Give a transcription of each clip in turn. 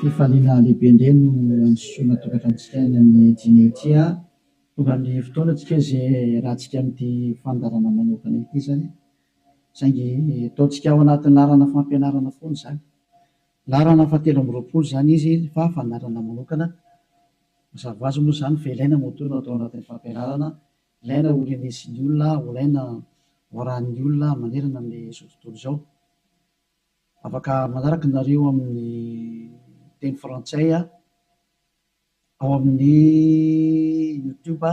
fifaliana lehibe indray no androsoana tokantranontsika any amin'ny dîner ity a! Tonga ny fotoana antsika izay hiarahantsika amin'ity fandaharana manokana ity izany, saingy ataontsika ao anatin'ny laharana fampianarana foana izany. Laharana fahatelo amby roapolo izany izy fa fandaharana manokana. Mazava azy moa izany fa ilaina moa toa no atao anatin'ny fampianarana, ilaina ho renesin'ny olona, ho ilaina ho arahin'ny olona manerana amin'izao tontolo izao. Afaka manaraka nareo amin'ny teny frantsay ao amin'ny youtube.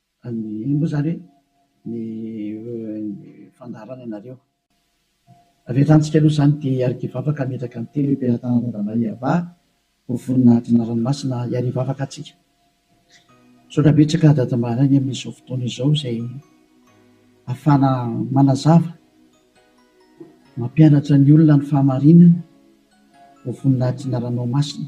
Anie moa izany ny fandaharana ianareo. Avelantsika aloha izany dia hiarivavaka hametraka ny telo emperantanan'i Adama i Hava ho voninahitry ny ranomasina hiarivavaka atsika. Misaotra betsaka Dada Maharainy amin'izao fotoana izao izay afahana manazava, mampianatra ny olona ny fahamarinana ho voninahitry ny Ranomasina.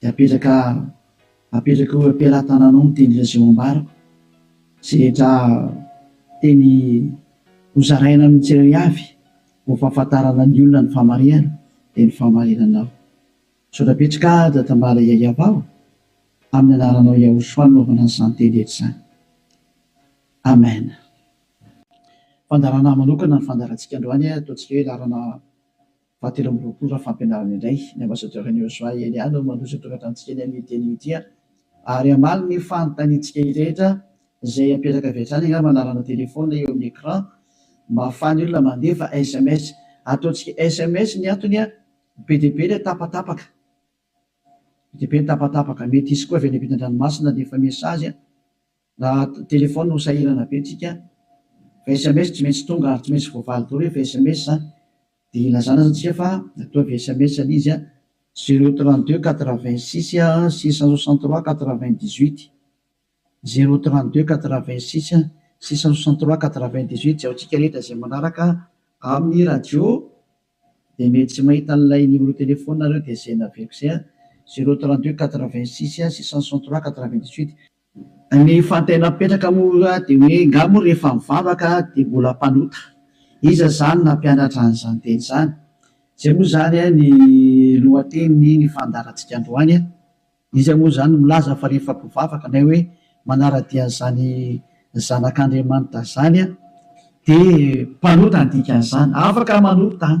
Dia apetraka apetraka eo am-pelatananao ny teny Lazao ambarako izay rehetra teny hozaraina amin'ny tsirairay avy ho fahafantarana ny olona ny fahamarinana dia ny fahamarinanao. Misaotra betsaka Dadambala Yayavao amin'ny anaranao Yahoshua nanaovana an'izany teny rehetra izany. Amen. Fandaharana manokana ny fandaharantsika androany, ataontsika hoe laharana Fahatelo amby roapolo raha fampianarana indray, ny Ambasadaoran'i Yosua Elia no mandroso ity torantrantsika eny amin'io teniny ity ary ary hamaly ny fanontaniantsika rehetra izay apetaka avy hatrany angamba anarana telephone eo amin'ny ecran mba ahafahan'ny olona mandefa sms ataontsika sms ny antony a be dia be ilay tapatapaka be dia be ny tapatapaka mety hisy koa avy any ampitan-dranomasina handefa message a. Na telephone no sahirana be tsika fa sms tsy maintsy tonga ary tsy maintsy voavaly daholo rehefa sms zany de ilazana aza tsika fa ataovy sms le izy a zero trente deux quatre vingt six six cent soixante trois quatre vingt dix huit zero trente deux quatre vingt six six cent soixante trois quatre vingt dix huit jiaontsika rehetra zay manaraka amin'ny radio de mety tsy mahita an'ilay numéro telephone nareo de zay naveriko zay a zero trente deux quatre vingt six six cent soixante trois quatre vingt dix huit. Ny fantena mipetraka moa dia hoe nga moa rehefa mivavaka dia mbola mpanota? Iza izany nampianatra an'izany teny izany? Izay moa izany ny lohatenin'ny ny fandaharantsika androany. Iza moa izany no milaza fa rehefa mpivavaka na hoe manara-dia an'izany zanak'Andriamanitra izany dia mpanota ny dikan'izany? Afaka manota an!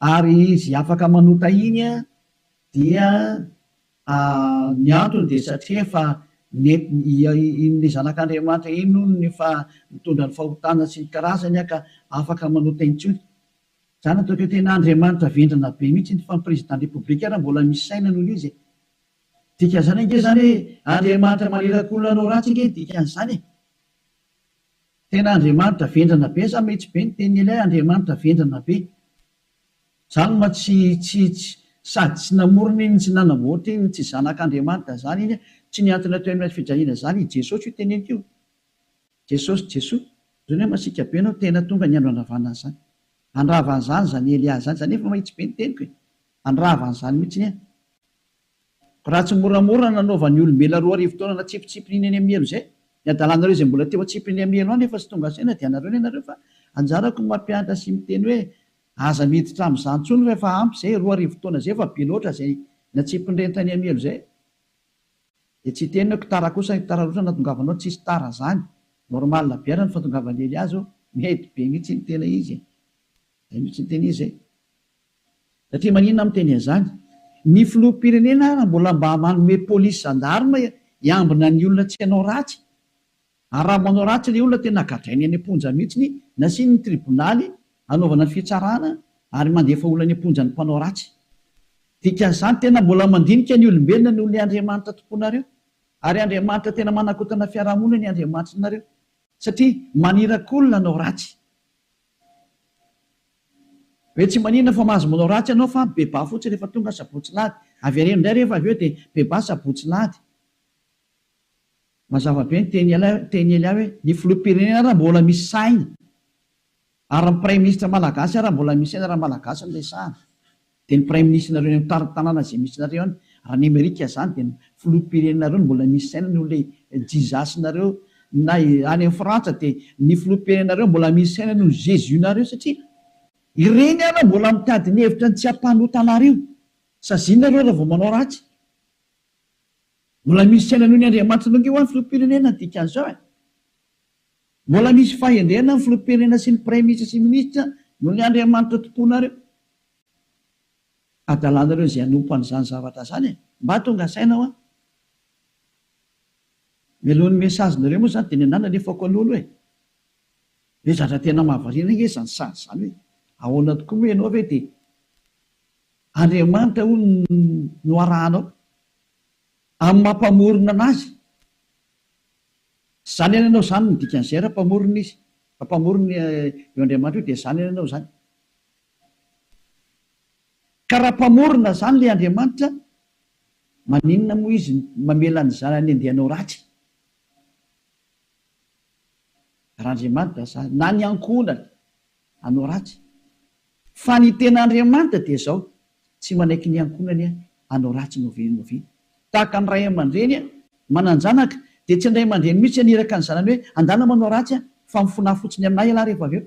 Ary izy afaka manota iny dia ny antony dia satria efa iny le zanak'Andriamanitra iny hono no efa mitondra ny fahotana sy ny karazany ka afaka manota intsony. Zany ataoko hoe tena Andriamanitra vendrana be mihitsy iny fa ny président de république ary mbola misy saina noho izy e! Dikan'izany ange zany hoe Andriamanitra manirakolona anao ratsy ange dikan'izany e! Tena Andriamanitra vendrana be sa mety be ny tenin'i Eliah Andriamanitra vendrana be. Jalma tsy tsy tsy sady tsy namorona iny tsy nanamboatra iny tsy zanak'Andriamanitra zany iny tsy ny antony atao Eliah fidrahiana zany i Jesosy io teneniko io Jesosy Jesoa zany hoe masiaka be anao tena tonga ny andro handravana an'zany handrava an'zany zany Eliah zany zany efa mahitsy be ny teniko e handrava an'zany mitsiny e. Raha tsy moramora nanaovan'ny olombelona roa arivo taona natsipitsipiny iny any amin'ny helo izay, ny adalanareo izay mbola teo an-tsipiny amin'ny helo any efa tsy tonga saina dia anareo ny anareo fa anjarako ny mampianatra sy miteny hoe aza miditra amin'izany intsony fa efa ampy izay, roa arivo taona izay efa be loatra izay natsipin'ireny tany amin'ny helo izay dia tsy hiteny aho, kitara kosa hitara loatra natongavanao, tsisy tara izany, normal be ary ny fatongavan'i Elias ô, mety be mihitsy ny tena izy e, izay mihitsy ny tena izy e. Satria maninona miteny an'izany? Ny filoham-pirenena ary mbola mba manome polisy zandarma hiambina ny olona tsy hanao ratsy? Ary raha manao ratsy ilay olona tena gadrainy any am-ponja mihitsy, nasiany ny tribonaly hanaovana ny fitsarana ary mandefa olona any am-ponja ny mpanao ratsy. Dikan'izany tena mbola mandinika ny olombelona noho ilay Andriamanitra tompoinareo. Ary Andriamanitra tena manakotana fiarahamonina ny Andriamanitrinareo. Satria maniraky olona hanao ratsy. Hoe tsy maninona fa mahazo manao ratsy ianao fa bebà fotsiny rehefa tonga sabotsy lahady. Avereno indray rehefa avy eo dia bebà sabotsy lahady. Mazava be ny teny ela teny ela hoe ny filoham-pirenena ary mbola misy saina ary ny praiminisitra malagasy ary mbola misy saina raha malagasy no resahana. Dia ny praiminisitrinareo eny amin'ny tanàna izay misy anareo any, raha ny amerika izany dia ny filoham-pirenenareo no mbola misy saina noho ilay jizasinareo, na any amin'ny frantsa dia ny filoham-pirenenareo mbola misy saina noho ny jesus-nareo satria ireny ary mbola mitady ny hevitra ny tsy hampanota anareo, saziana ireo raha vao manao ratsy, mbola misy saina noho ny andriamanitra nongeo any filoham-pirenena ny dikan'izao e! Mbola misy fahendrena ny filoham-pirenena sy ny praiminisitra sy ny minisitra noho ny andriamanitra tompoinareo. adalanareo izay hanompo an'izany zavatra izany e! Mba tonga saina hoa! Mialohan'ny message nareo moa zany dia nianana alefako alolo e! Ve zatra tena mahavariana ange izany sazy izany hoe ahoana tokoa moa ianao ve dia Andriamanitra hono no arahanao amin'ny maha mpamorona anazy? Tsy zany ianao izany no dikan'izay raha mpamorona izy, raha mpamorona io Andriamanitra io dia zany ianao izany. Ka raha mpamorona zany le Andriamanitra maninona moa izy mamela ny zanany andeha hanao ratsy? Raha Andriamanitra zany na ny ankohonany hanao ratsy fa ny tena Andriamanitra dia zao tsy manaiky ny ankohonany hanao ratsy no ve no ve tahaka ny ray aman-dreny manan-janaka dia tsy ny ray aman-dreny mihitsy haniraka ny zanany hoe andana manao ratsy fa mifona fotsiny aminay ialahy rehefa avy eo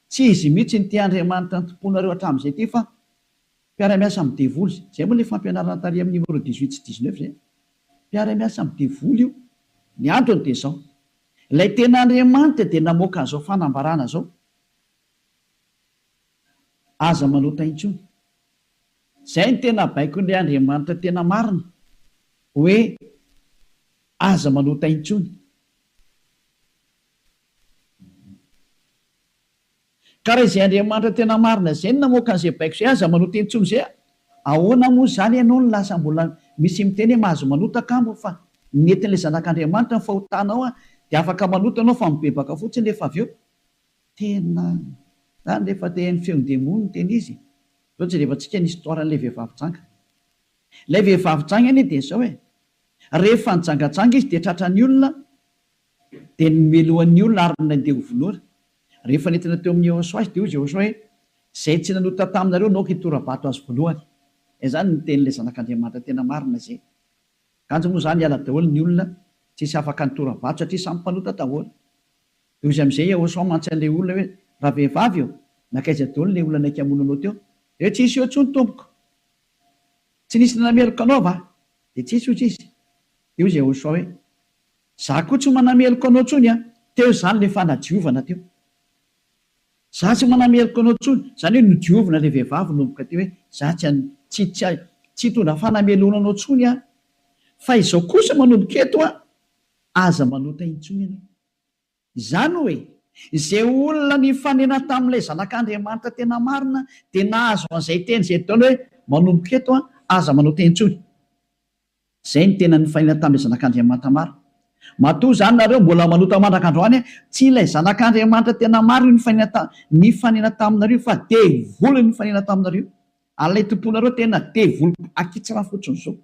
Tsy izy mihitsy no tia Andriamanitra ny tomponareo hatramin'izay ity fa mpiara-miasa amin'ny devoly. Izay moa ilay fampianarana tary amin'ny numéro dix huit sy dix neuf izay. Mpiara-miasa amin'ny devoly io. Ny antony dia izao. Ilay tena Andriamanitra dia namoaka an'izao fanambarana izao. Aza manota intsony. Izay no tena baikon'ilay Andriamanitra tena marina. Hoe aza manota intsony. Ka raha izay Andriamanitra tena marina izay no namoaka an'izay baiko izay, aza manota intsony izay a! Ahoana moa izany ianao no lasa mbola misy miteny hoe mahazo manota angamba fa nentin'ilay Zanak'Andriamanitra ny fahotanao a! Dia afaka manota ianao fa mibebaka fotsiny rehefa avy eo. Tena izany rehefa te haino feon'ny demony no tena izy. Izao jereva tsika ny histoire an'ilay vehivavy janga. Ilay vehivavy janga anie dia izao e! Rehefa nijangajanga izy dia tratran'ny olona, Dia nomelo an'ny olona ary nandeha ho vonoina. Rehefa nentina teo amin'i Yehosua izy, dia hoy Jehoshua hoe, Izay tsy nanota taminareo naoka hitora-bato azy voalohany. Izany no tenin'ilay Zanak'Andriamanitra tena marina izay. Kanjo moa izany hiala daholo ny olona, tsy hisy afaka nitora-bato satria samy mpanota daholo. Dia hoy amin'izay Yehosua mantsy an'ilay olona hoe, Ravehivavy ô, nankaiza daholo ilay olona naika hamono anao teo? Dia tsy nisy eo intsony, tompoko. Tsy nisy nanameloka anao va? Dia tsy nisy, hoy izy. Dia hoy Jehoshua hoe, Za koa tsy manameloka anao tsony an! Teo izany le fanadiovana teo. Za tsy manameloka anao tsony, zany hoe nodiovina le vehivavy nomboka teo hoe za tsy an, tsy, tsy, tsy hitondra fanameloana anao tsony aho. Fa izao kosa manomboka eto an, aza manota intsony ianao. Izany hoe, izay olona nifanena tamin'ilay Zanak'Andriamanitra tena marina dia nahazo an'izay teny izay Daona hoe, Manomboka eto, aza manao teny intsony. Izay no tena nifanena tamin'ilay Zanak'Andriamanitra marina. Matoa izany nareo mbola manota mandraka androany, tsy ilay Zanak'Andriamanitra tena marina io nifanena taminareo io fa devoly nifanena taminareo io. Ary ilay tomponareo tena devoly akitsara fotsiny izao.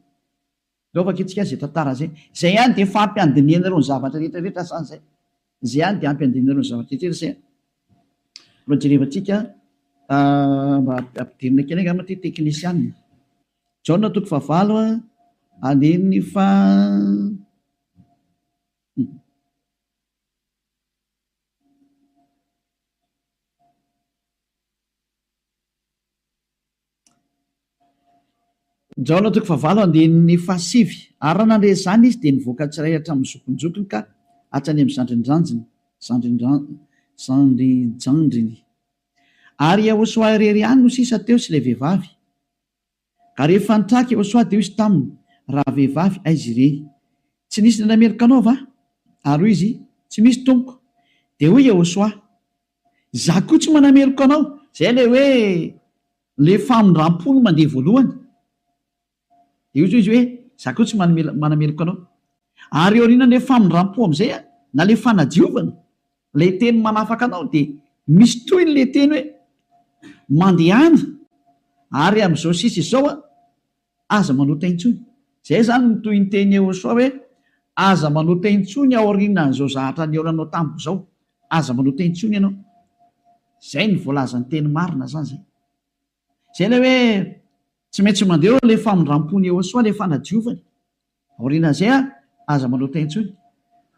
Zao vakintsika izay tantara izay. Izay ihany dia efa ampy handinihanareo ny zavatra rehetra rehetra sa izay? Izay ihany dia ampy handinihanareo ny zavatra rehetra rehetra izay? Mba jerevantsika mba ampidirina kely angamba ity teknisianina. Jaona toko fahavalo andininy faha Njaona toko fahavalo andininy fahasivy. Ary raha nandre izany izy, dia nivoaka tsirairay hatramin'ny zokinjokiny ka hatrany amin'ny zandrinjandriny, zandrinjandriny. Ary i Iehosoa irery ihany no sisa teo sy ilay vehivavy. Ary rehefa nitraka i Iehosoa, dia hoy izy taminy, Rahavehivavy, aiza ireny? Tsy nisy indray meloka anao va? Ary hoy izy, Tsy misy, tompoko. Dia hoy i Iehosoa, Izaho koa tsy manameloka anao. Izay ilay hoe ilay famindram-po no mandeha voalohany. Dia hoy izy hoe, Izaho koa tsy manameloka anao. Ary eo aorianan'ilay famindram-po amin'izay, na ilay fanadiovana, ilay teny manafaka anao, dia misy tohiny ilay teny hoe, Mandehana, ary amin'izao sisa izao, Aza manota intsony. Izay izany no tohin-tenin'i Yehosua hoe, Aza manota intsony aorianan'izao zahatra nihaona anao tamiko izao. Aza manota intsony ianao. Izay no voalazan'ny teny marina izany izay. Izay ilay hoe tsy maintsy mandeha eo ilay famindram-pon'i Yehosua, ilay fanadiovany. Aorianan'izay ary, aza manota intsony,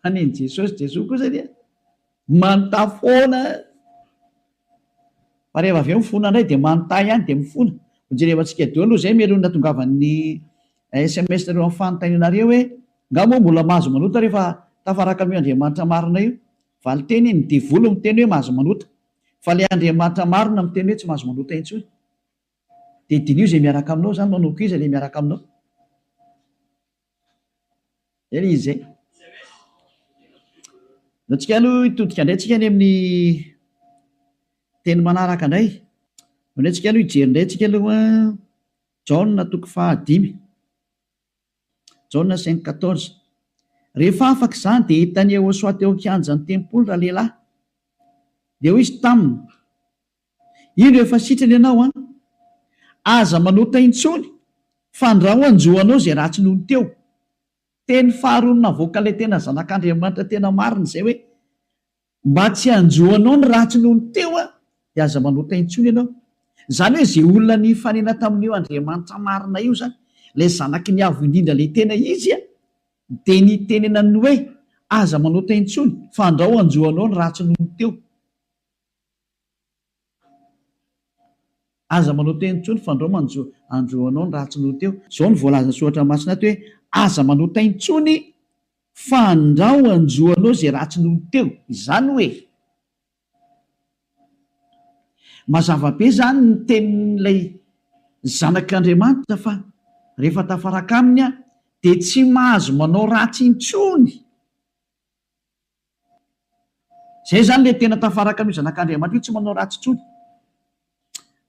fa nen'i Jesosy, Jesoa kosa dia manota foana. Fa rehefa avy eo mifona indray dia manota ihany dia mifona. Hojereva antsika daholo izay mialohan'ny natongavan'ny sms nareo amin'ny fanontanianareo hoe, Nga moa mbola mahazo manota rehefa tafaraka amin'io Andriamanitra marina io? Valin-teny, Ny devoly miteny hoe mahazo manota. Fa ilay Andriamanitra marina miteny hoe tsy mahazo manota intsony. Dia diniho izay miaraka aminao izany manao koa iza ilay miaraka aminao? Zay ilay izy zay. Dia antsika aloha hitodika indray tsika any amin'ny teny manaraka indray. Ao indray tsika aloha hijery indray tsika aloha Jaona toko fahadimy. Jaona cinq quatorze. Rehefa afaka izany dia hitan'i Yehosoa teo an-kianjan'ny tempoly ralehilahy. Dia hoy izy taminy, Indro efa sitrana ianao an! Aza manota intsony, fandrao hanjo anao izay ratsy nony teo. Teny faharoa navoaka ilay tena zanak'Andriamanitra tena marina izay hoe, Mba tsy hanjo anao ny ratsy nony teo aho, dia aza manota intsony ianao. Izany hoe izay olona nifanena tamin'io Andriamanitra marina io izany, ilay zanaky ny Avo Indrindra ilay tena izy an, dia nitenenany ny hoe, Aza manota intsony, fandrao hanjo anao ny ratsy nony teo. Aza manao teny intsony fa ndrao manjo andro anao ny ratsy noho teo. Izao no voalazan'ny soratra masina ato hoe, Aza manao teny intsony fa ndrao hanjo anao izay ratsy noho teo. Izany hoe, mazava be izany ny tenin'ilay Zanak'Andriamanitra fa rehefa tafaraka aminy aho dia tsy mahazo manao ratsy intsony. Izay izany ilay tena tafaraka amin'io zanak'Andriamanitra io, tsy manao ratsy intsony.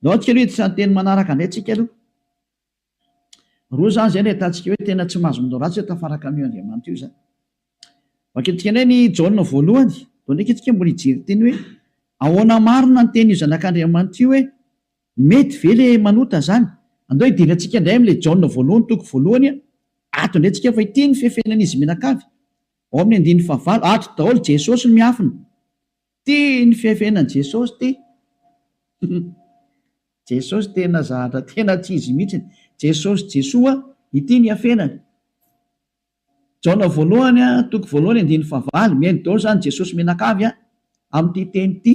Ndao antsika aloha hiditra ny teny manaraka indray tsika aloha. Roa izany izay no ahitantsika hoe tena tsy mahazo manao ratsy hoe tafaraka amin'io Andriamanitra io izany. Vakintsika indray ny Jaona voalohany, ndao ndraika antsika mbola hijery teny hoe ahoana marina ny tenin'io zanak'Andriamanitra io hoe mety ve ilay manota izany. Andao hidera antsika indray amin'ilay Jaona voalohany toko voalohany ato indray tsika fa ity ny fefenan'izy mianakavy. Ao amin'ny andininy fahavalo, ato daholo Jesosy no miafina. Tia ny fihafenany Jesosy ty. Jesosy tena zahatra tena tsy izy mihitsy. Jesosy Jesoa ity ny hafenany. Jaona voalohany a, toko voalohany andininy fahavalo, mihaino daholo izany Jesosy mianakavy a, amin'ity teny ity.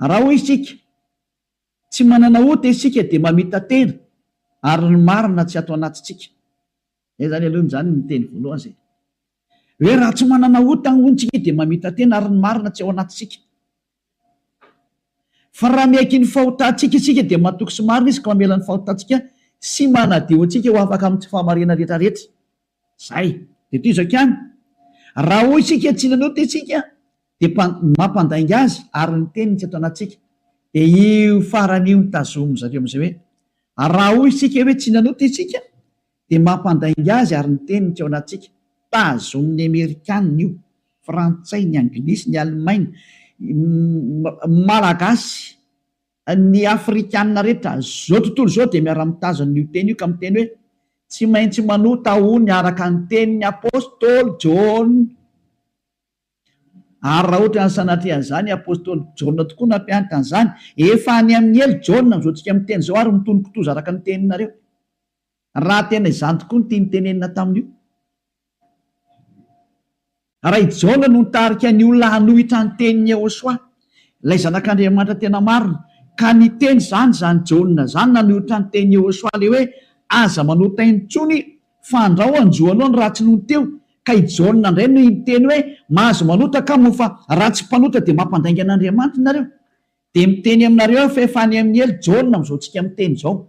Raha hoy isika, tsy manana ota isika dia mamita-tena ary ny marina tsy ato anatintsika. Zay zany aloha zany ny teny voalohany zay hoe raha tsy manana ota hono tsika dia mamita tena ary ny marina tsy ao anatintsika. Fa raha miaiky ny fahotantsika isika dia matoky sy marina izy ka mamela ny fahotantsika sy manadio antsika ho afaka amin'ny tsy fahamariana rehetra rehetra. Zay. Dia tohizo hakiany. Raha hoy isika tsy nanota isika dia mpa, mampandainga azy ary ny teniny tsy ato anatintsika. Dia io farany io no tazomin-dry zareo amin'izay hoe raha hoy isika hoe tsy nanota isika Dia mampandainga azy ary ny teniny teo anatintsika. Tazonin'ny Amerikana io, Frantsay, ny Anglisy, ny Alemaina, ny Malagasy, ny Afrikana rehetra izao tontolo izao dia miara-mitazona an'io teny io ka miteny hoe, Tsy maintsy manota ho ny araka ny tenin'ny Apostoly Jaona. Ary raha ohatran'ny sanatria an'izany i Apostoly Jaona tokoa nampiantana izany, efa any amin'ny helo Jaona amin'izao tsika miteny izao ary mitonon-kitoza araka ny teninareo. raha tena izany tokoa ny tiany tenenina tamin'io. Raha i Jaona no nitarika ny olona hanohitra ny tenin'i Yehosua, ilay Zanak'Andriamanitra tena marina, ka niteny izany izany Jaona izany nanohitra ny tenin'i Yehosua ilay hoe, Aza manota intsony, fa andrao hanjo anao ny ratsy nony teo, ka i Jaona indray no niteny hoe, Mahazo manota kamo ho fa raha tsy mpanota dia mampandainga an'Andriamanitra nareo. Dia miteny aminareo aho fa efa any amin'ny helo Jaona amin'izao tsika miteny izao.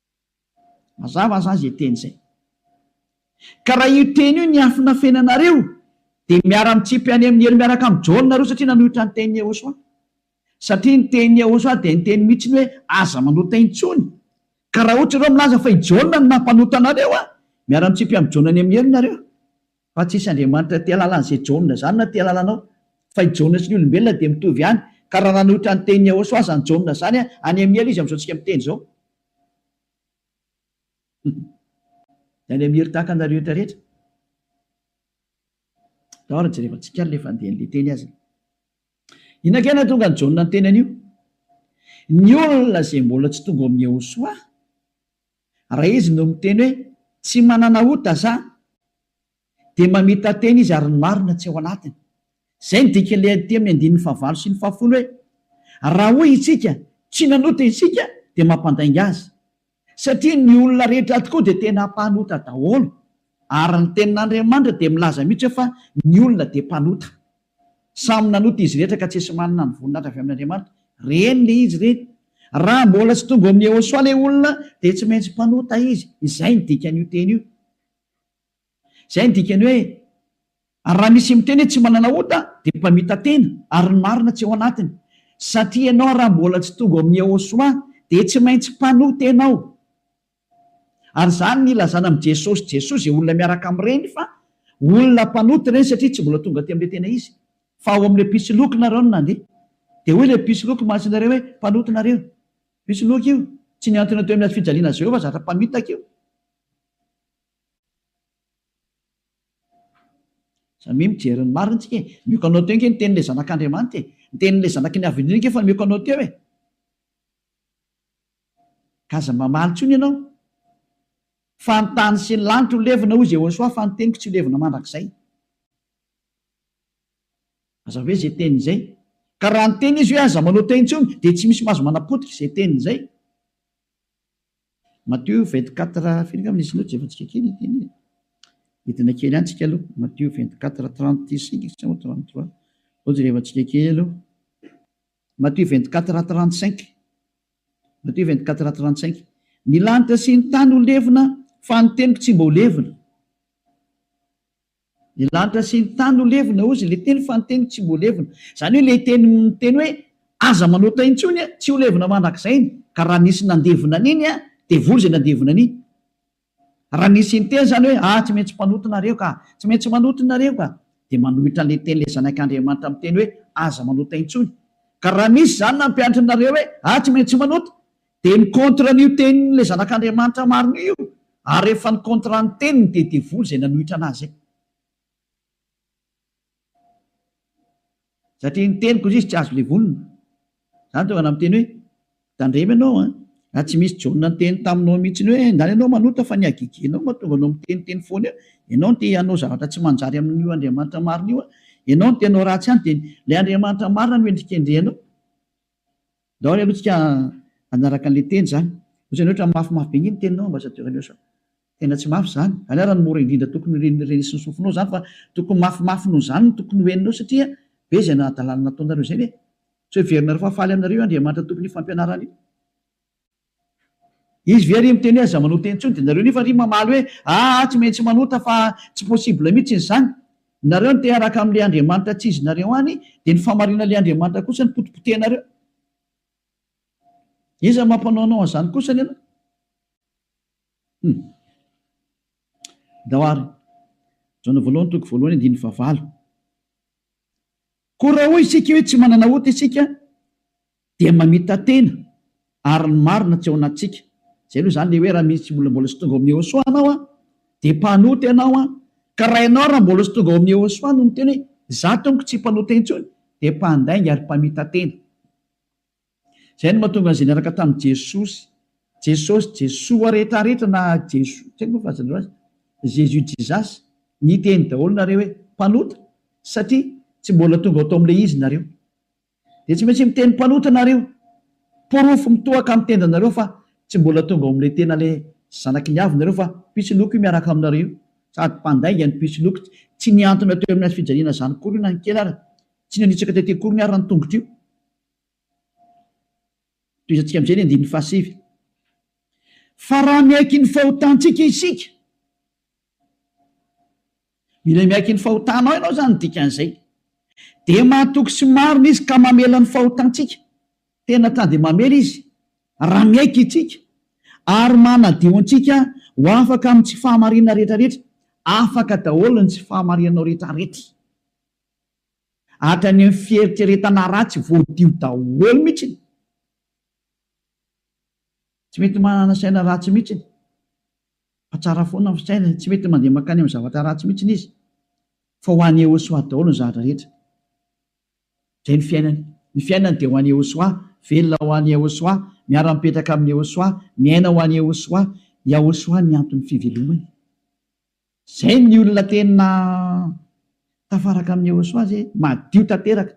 Mazava aza izay teny izay. Ka raha io teny io niafina feno anareo dia miara mitsipy any amin'ny helo miaraka amin'i Jaona nareo satria nanohitra ny tenin'i Yehosua. Satria ny tenin'i Yehosua dia niteny mihitsy ny hoe aza manota intsony. Ka raha ohatra ianao milaza fa i Jaona no nampanota anareo an! miara mitsipy amin'i Jaona any amin'ny helo nareo. Fa tsy hisy Andriamanitra aty alalan'izay Jaona izany na aty alalanao. Fa i Jaona sy ny olombelona dia mitovy ihany. Ka raha nanohitra ny tenin'i Iaoshua izany Jaona izany, any amin'ny helo izy amin'izao tsika miteny izao. Any amin'ny helo tahaka anareo eto rehetra. Tao ary jerevantsika ary ilay fandehan'ilay teny azany. Inona kay no nahatonga an'i Jaona niteny an'io? Ny olona izay mbola tsy tonga ao amin'i Iaoshua. Raha izy no miteny hoe tsy manana ota za dia mamita-teny izy ary ny marina tsy ao anatiny. Izay ny dikan'ilay andihy amin'ny andininy fahavalo sy ny fahafolo hoe raha hoy isika tsy nanota isika dia mampandainga azy satria ny olona rehetra ato koa dia tena mpanota daholo ary ny tenin'Andriamanitra dia milaza mihitsy hoe fa ny olona dia mpanota. Samy nanota izy rehetra ka tsisy manana ny voninahitra avy amin' Andriamanitra. Reny le izy reny. Raha mbola tsy tonga ao amin' Yehôsoa le olona dia tsy maintsy mpanota izy. Izay ny dikan' io teny io. Izay ny dikan' hoe raha misy miteny hoe tsy manana ota dia mpamita-tena ary ny marina tsy ao anatiny. Satria ianao raha mbola tsy tonga ao amin' Yehôsoa dia tsy maintsy mpanota ianao. Ary izany ny ilazana amin'i Jesosy Jesosy izay olona miaraka amin'ireny fa olona mpanota ireny satria tsy mbola tonga teo amin'ilay tena izy fa ao amin'ilay mpisoloky nareo no nandeha. Dia hoy ilay mpisoloky maso anareo hoe mpanota nareo. Mpisoloky io. Tsy mihantona teo amin'ny hazofijaliana Jehovah zatra mpamitaka io. Samia mijery ny marina tsika e. Mioko anao teo nge ny tenin'ilay zanak'Andriamanitra e. Ny tenin'ilay zanaky ny avy indrindra nge efa mioko anao teo e. Ka aza mamaly intsony ianao fa ny tany sy ny lanitra ho levona hoy Jehosoa fa ny teniko tsy ho levona mandrakizay. Aza hoe izay teny izay. Ka raha niteny izy hoe aza manao teny intsony dia tsy misy mahazo manapotika izay teny izay. Matio 24 firy angamba nisy notes efa tsika kely teny e. Hidina kely any tsika aloha. Matio 24 35 sa 33. Hoje rehefa tsika kely aloha. Matthieu vingt-quatre rat trente-cinq Matthieu vingt-quatre rat trente-cinq Ny lanitra sy ny tany ho levona fa ny teniko tsy mba ho levona Ny lanitra sy ny tany ho levona hozy ilay teniko fa ny teniko tsy mba ho levona Izany hoe ilay teny miteny hoe aza manota intsony tsy ho levona mandrakizay iny ka raha nisy nandevona an'iny dia vory izay nandevona an'iny. Raha ny sinteny izany hoe ahy tsy maintsy mpanota nareo ka, tsy maintsy manota nareo ka, dia manohitra ilay teny ilay Zanak' Andriamanitra miteny hoe aza manota intsony. Ka raha misy izany nampianatry nareo hoe ahy tsy maintsy manota, dia ny contre an'io tenin' ilay Zanak' Andriamanitra marina io, ary rehefa ny contre ny teniny dia devoly izay nanohitra anazy izay. Satria ny teniko indrisy tsy azo levonina. Izany tonga namiteny hoe, Tandremo ianao an! Raha tsy misy John niteny taminao mihitsiny hoe, Ndany ianao manota fa ny hagegenao mahatonga anao miteniteny foana eo, ianao no te hanao zavatra tsy manjary amin'io Andriamanitra marina io an! Ianao no te hanao ratsy ihany dia ilay Andriamanitra marina no endrikendrehanao. Daholo aloha tsika hanaraka anle teny zany. Ohatran'ny hoe ohatran'ny mafimafy be ngeny teninao ambassadeur Elios a. Tena tsy mafy zany. Zany ara no mora indrindra tokony ho ren'ny reny sy ny sofinao zany fa tokony mafimafy noho zany no tokony ho heninao satria be zay nahadalana nataonareo zay ve? Tsy hoe heverinareo fa faly aminareo io Andriamanitra Tompon'io fampianarana io. Izy ve ary miteny hoe aza manota intsony dia nareo nefa ary mamaly hoe aa tsy maintsy manota fa tsy possible mitsiny zany. Nareo no te haraka amle Andriamanitra tsy izy nareo any dia ny famarina le Andriamanitra kosa no potipotehinareo. Iza no mampanao anao anzany kosa ny anao? Hum. Dao ary. Jaona voalohany toko voalohany andininy fahavalo. Koa raha hoy isika hoe tsy manana ota isika Dia mamita-tena ary ny marina tsy ao anatintsika. Izay aloha izany ilay hoe raha misy tsy mbola mbola tsy tonga ao amin'ny Yehosua ianao an, dia mpanota ianao an, ka raha ianao raha mbola tsy tonga ao amin'ny Yehosua no miteny hoe izaho tompoko tsy mpanota intsony dia mpandainga ary mpamita-tena. Izay no mahatonga an'izay niaraka tamin'i Jesosy, Jesosy, Jesoa rehetra rehetra na Jesoa, tsy haiko moa fa aza andreo azy, Jésus, Jesus, niteny daholo nareo hoe mpanota satria tsy mbola tonga tao amin'ilay izy nareo. Dia tsy maintsy miteny mpanota nareo. Porofo mitohaka amin'ny tendanareo fa tsy mbola tonga ao amin'ilay tena ilay zanaky ny avy nareo fa pitsiloko io miaraka aminareo io. Sady mpandainga ny pitsiloko. Tsy nihantona teo amin'ny hazo fijaliana zany akory io na ny kely ary. Tsy nanitsaka tety akory ny ary ny tongotro io. Tohizantsika amin'izay ny andininy fahasivy. Fa raha miaiky ny fahotantsika isika. Mila miaiky ny fahotanao ianao izany no dikan'izay. Dia mahatoky sy marina Izy ka mamela ny fahotantsika. Tena ta dia mamela Izy raha miaiky itsika ary manadio antsika ho afaka amin'ny tsy fahamarinana rehetrarehetra. Afaka daholo ny tsy fahamarinanao rehetrarehetra. Hatrany amin'ny fieritreretana ratsy voadio daholo mihitsy. Tsy mety manana saina ratsy mihitsiny fa tsara foana ny fisainany, tsy mety mandeha mankany amin'ny zavatra ratsy mihitsiny izy fa ho an'i Yehosoa daholo ny zavatra rehetra. Izay ny fiainany. Ny fiainany dia ho an'i Yehosoa, velona ho an'i Yehosoa, miara-mipetraka amin'i Yehosoa, miaina ho an'i Yehosoa. Yahosoa ny anton'ny fivelomany. Izay ny olona tena tafaraka amin'i Yehosua izay, madio tanteraka,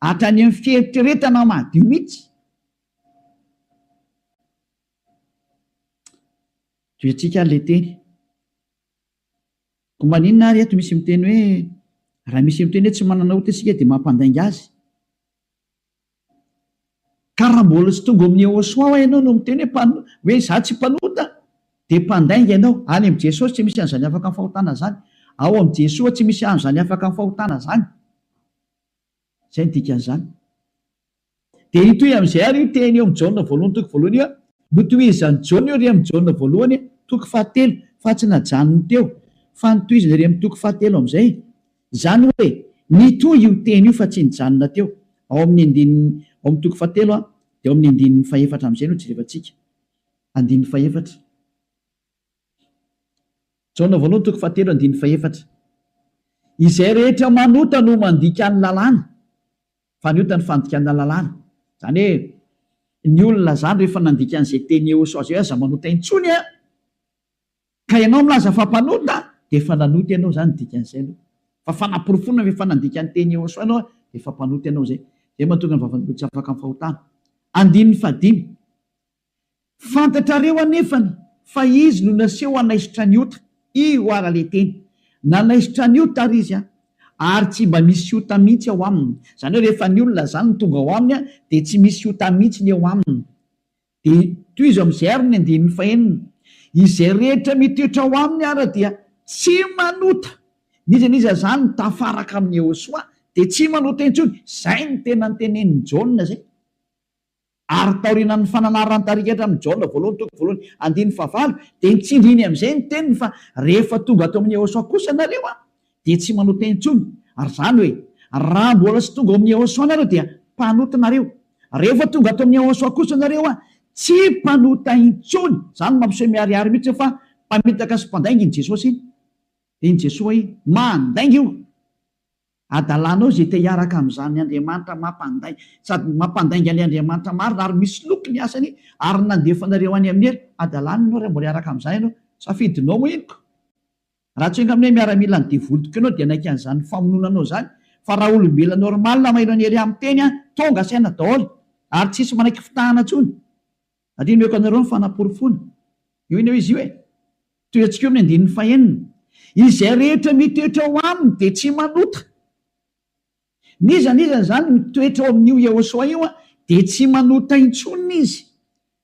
hatrany amin'ny fieritreretana madio mihitsy. Tohiantsika ilay teny. Koa maninona ary eto misy miteny hoe raha misy miteny hoe tsy manana ota isika dia mampandainga azy? Ka raha mbola tsy tonga ao amin'ny Yehoswa ho'a ianao no miteny hoe hoe izaho tsy mpanota dia mpandainga ianao. Any amin'i Jesosy tsy misy an'izany afaka amin'ny fahotana izany. Ao amin'i Jesoa tsy misy an'izany afaka amin'ny fahotana izany. Izay no dikan'izany. Dia hitohy amin'izay ary io teny eo amin'i Jaona voalohany toko voalohany io, notohizan'i Jaona io ery amin'i Jaona voalohany toko fahatelo fa tsy najanony teo fa notohizany ery amin'ny toko fahatelo amin'izay. Izany hoe, nitohy io teny io fa tsy nijanona teo. Ao amin'ny andininy, ao amin'ny toko fahatelo a, dia ao amin'ny andininy fahefatra amin'izay no jerevantsika. Andininy fahefatra. Jaona voalohany toko fahatelo andininy fahefatra. Izay rehetra manota no mandika ny lalàna, fa ny ota ny fandikana lalàna. Izany hoe, ny olona izany rehefa nandika an'izay teny Eosa izay aza manota intsony a! Ka ianao milaza fa mpanota dia efa nanota ianao izany ny dikan'izay aloha. Fa fanaporofoana ve fa nandika ny teny Yhosoa ianao dia efa mpanota ianao izay. Izay mahatonga ny vavan'olona tsy afaka amin'ny fahotana. Andininy fahadimy. Fantatrareo anefany fa Izy no naseho hanaisotra ny ota. Io ara le teny. Nanaisotra ny ota ary Izy an. Ary tsy mba misy ota mihitsy ao Aminy. Izany hoe rehefa ny olona izany no tonga ao Aminy dia tsy misy ota mihitsy ny eo Aminy. Dia tohizo amin'izay àry ny andininy fahenina, Izay rehetra mitoetra ao aminy àry dia tsy manota. N'iza n'iza izany tafaraka amin'i Iehosoa dia tsy manota intsony. Izay no tena notenenin'i Jaona izay. Ary taorianan'ny fananaran-tarikatra amin'i Jaona voalohany, toko voalohany, andininy fahavalo, dia nitsindriny amin'izay ny teniny fa, Rehefa tonga ato amin'i Iehosoa kosa ianareo, dia tsy manao teny intsony, ary izany hoe raha mbola tsy tonga ao amin'ny Yehosua nareo dia mpanota nareo, rehefa tonga ato amin'ny Yehosua kosa nareo a, tsy mpanota intsony, izany mampiseho miharihary mihitsy hoe fa mpamitaka sy mpandainga iny Jesosy iny, dia iny Jesosy iny mandainga io adalanao izay te hiaraka amin'izany Andriamanitra mampandai, sady mampandainga an'ilay Andriamanitra marina ary misoloky ny asany ary nandefa anareo any amin'ny adalanany ianao raha mbola hiaraka amin'izany ianao, safidinao moa iny ko. Raha tsy enga aminay miaramila ny devoly tokeo anao dia naika an'izany famonoana anao izany fa raha olombelona normal mailo an'i Heria miteny an tonga saina daholo ary tsisy manaiky fitahana intsony satria nomeko anareo ny fanaporofoana io eneo izy io e tohiantsika eo amin'ny andininy fahenina izay rehetra mitoetra ao aminy dia tsy manota n'iza n'iza izany mitoetra ao amin'io Yehosoa io an dia tsy manota intsony izy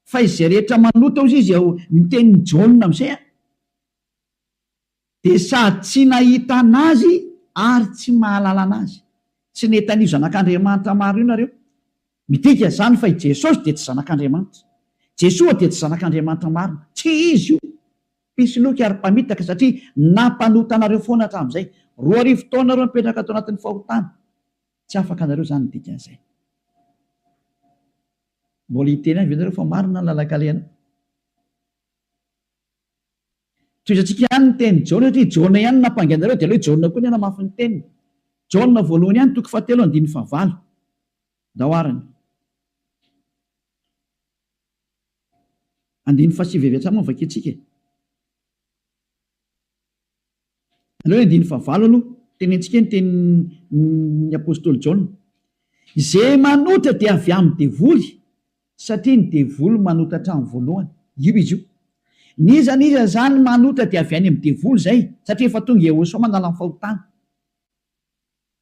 fa izay rehetra manota ozy izy ao ny tenin'i Jaona amin'izay an Dia sady tsy nahita an'Azy ary tsy mahalala an'Azy. Tsy nety an'io Zanak'Andriamanitra maro io nareo. Midika izany fa i Jesosy dia tsy Zanak'Andriamanitra. Jesoa dia tsy Zanak'Andriamanitra marina. Tsia Izy io. Mpisoloky ary mpamitaka satria nampanota anareo foana hatramin'izay. Roa arivo taona nareo mipetraka tao anatin'ny fahotana. Tsy afaka nareo izany ny dikan'izay. Mbola hiteny ihany ve nareo fa marina ny lalan-kalehana? Tohizantsika ihany ny tenin'i Jaona satria i Jaona ihany no nampangainareo dia aleo i Jaona koa ny hanamafy ny teniny. Jaona voalohany ihany toko fahatelo andininy fahavalo. Ndao ary ny. Andininy fahasivy avy hatrany moa no vakiantsika e. Aleo andininy fahavalo aloha, tenentsika ny tenin'ny apostoly Jaona, Izay manota dia avy amin'ny devoly, satria ny devoly manota hatramin'ny voalohany. Io izy io. N'iza n'iza izany manota dia avy any amin'ny devoly izay, satria efa tonga i Iehosoa manala ny fahotana.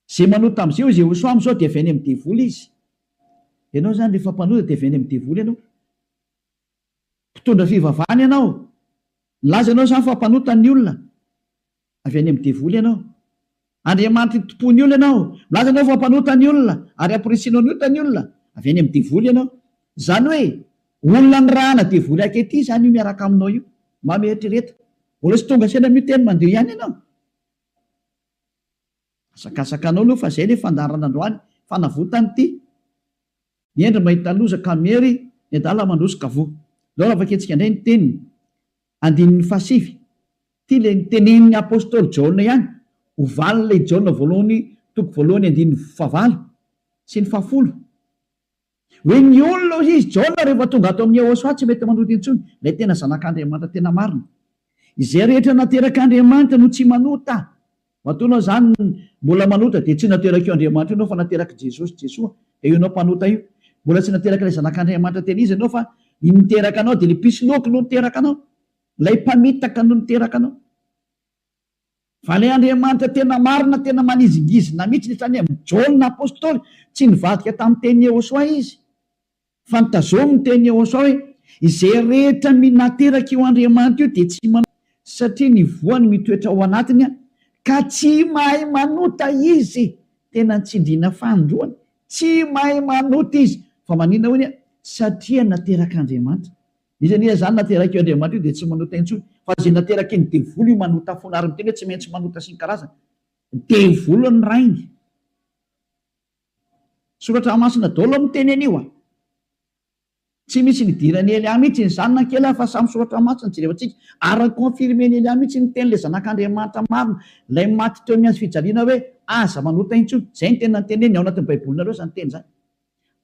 Izay manota amin'izay hoy Iehosoa amin'izao dia avy any amin'ny devoly izy. Ianao izany rehefa mpanota dia avy any amin'ny devoly ianao. Mpitondra fivavahana ianao. Nilaza ianao izany fa mpanota ny olona. Avy any amin'ny devoly ianao. Andriamanitra itompoan'ny olona ianao. Milaza ianao fa mpanota ny olona ary hampirisianao ny ota ny olona. Avy any amin'ny devoly ianao. Izany hoe olona nirahana devoly ankehitriny izany io miaraka aminao io. Mba mieritrereta. Mbola tsy tonga saina miteny mandeha ihany ianao. Hazakazaka anao aloha fa zay le fandaharana androany fanavotany ty ny hendry mahita loza ka miery ny adala mandroso ka voa ndao raha vakintsika ndray ny teniny andininy faha sivy ty le niteneniny apostoly jaona ihany ho valiny le i jaona voalohany toko voalohany andininy faha valo sy ny faha folo Hoe ny olona hoy izy, Jaona rehefa tonga ato amin'i Yehosua tsy mety manohitra intsony, ilay tena Zanak'Andriamanitra tena marina. Izay rehetra naterak'Andriamanitra no tsy manota. Matoa ianao izany mbola manota dia tsy naterak'io Andriamanitra io ianao fa naterak'i Jesosy, Jesoa, dia io ianao mpanota io. Mbola tsy naterak'ilay Zanak'Andriamanitra tena izy ianao fa ny niteraka anao dia ilay mpisoloky no niteraka anao. Ilay mpamitaka no niteraka anao. Valeandriamanitra tena marina tena manizingizina mihitsy ny sainy amin'i Jaona apostoly, tsy nivadika tamin'ny teny Yehosoa izy fa nitazomy ny teny Yehosoa hoe izay rehetra minateraka io Andriamanitra io dia tsy manota satria ny voany mitoetra ao anatiny ka tsy mahay manota izy, tena ny tsindriana fanindroany tsy mahay manota izy fa manina hoy ny satria naterak'Andriamanitra. Izy anie izany naterak' io Andriamanitra io dia tsy manota intsony, fa izay naterak' iny devoly io manota foana, ary miteny hoe tsy maintsy manota sy ny karazany. Devoly ny rainy. Soratra masina daholo miteny an' io a! Tsy misy nidiran' i Elià mihitsy ny zanany kely a! Fa samy soratra masina jerevantsika, ary ny confirmen' Elià mihitsy ny tenin' ilay Zanak' Andriamanitra marina, ilay maty teo amin' ny hazofijaliana hoe aza manota intsony. Izay ny teny nanteneniny, ao anatin' ny Baibolinareo izany teny izany.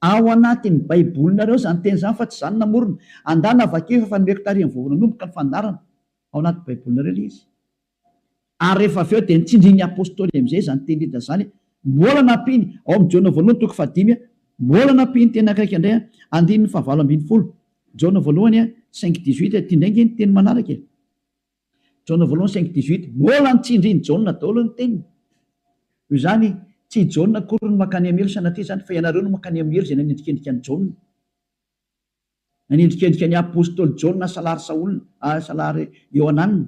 Ao anatin'ny Baibolinareo izany teny izany fa tsy izaho no namorona. Andana vakio efa efa nomeko tary amin'ny voalohany nanomboka ny fandaharana. Ao anaty Baibolinareo ilay izy. Ary rehefa avy eo dia notsindrin'ny Apostoly amin'izay izany teny Lida izany. Mbola nampiany, ao amin'ny Jaona voalohany toko fahadimy, mbola nampiany teny ankaika indray, andininy fahavalo ambin'ny folo, Jaona voalohany cinq dix-huit, ity indray ange ny teny manaraka e. Jaona voalohany cinq dix huit, Mbola ny tsindrin'i Jaona daholo ny teniny. Noho izany, tsy i Jaona akory no mankany amin'ny helo sanatria izany, fa ianareo no mankany amin'ny helo izay nanendrikendrika an'i Jaona. Nanendrikendrika ny apostoly Jaona salary Saola, salary Iohanana.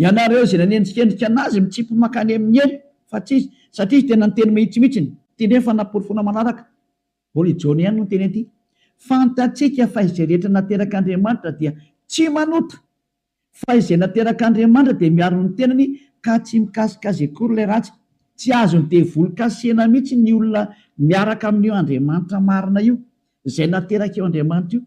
Ianareo izay nanenjikenjika an'azy mitsipy mankany amin'ny helo fa tsy izy satria izy tena niteny mahitsy mihitsy ny. Ity indray efa naporofona manaraka, mbola i Jaona ihany no niteny an'ity, Fantatsika fa izay rehetra naterak'Andriamanitra dia tsy manota, fa izay naterak'Andriamanitra dia miaro ny tenany ka tsy mikasika azy akory ilay ratsy. Tsy azon'ny devoly kasihina mihitsy ny olona miaraka amin'io Andriamanitra marina io, izay naterak'io Andriamanitra io.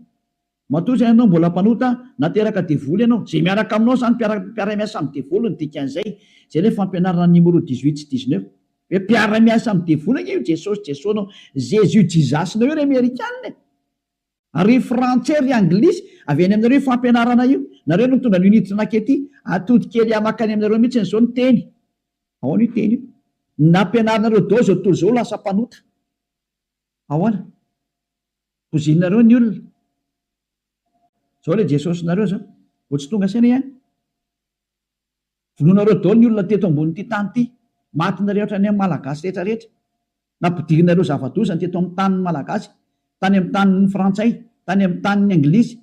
Matoa izay ianao mbola mpanota, na teraka devoly ianao, izay miaraka aminao izany mpiara mpiara-miasa amin'ny devoly ny dikan'izay, izay ilay fampianarana ny Nimoro dix huit sy dix neuf. Hoe mpiara-miasa amin'ny devoly ange io Jesosy Jesosnao, Jésus Jesus-nao io ry Amerikana e! Ary ry Frantsay ry Anglisy, avy any aminareo io fampianarana io, nareo no nitondra an'io niditra nakety, atody kely ahy makany aminareo mihitsiny izao ny teny, ahoana io teny io, ny nampianarinareo dao izao tontolo izao lasa mpanota. Ahoana? Bozinareo ny olona. Zao le Jesosinareo zao. Vao tsy tonga saina ihany. Vonoinareo daholo ny olona teto ambonin'ity tany ity. Maty nareo hatrany amin'ny Malagasy rehetra rehetra. Nampidirinareo zava-doza ny teto amin'ny tanin'ny Malagasy. Tany amin'ny tanin'ny Frantsay, tany amin'ny tanin'ny Anglisy.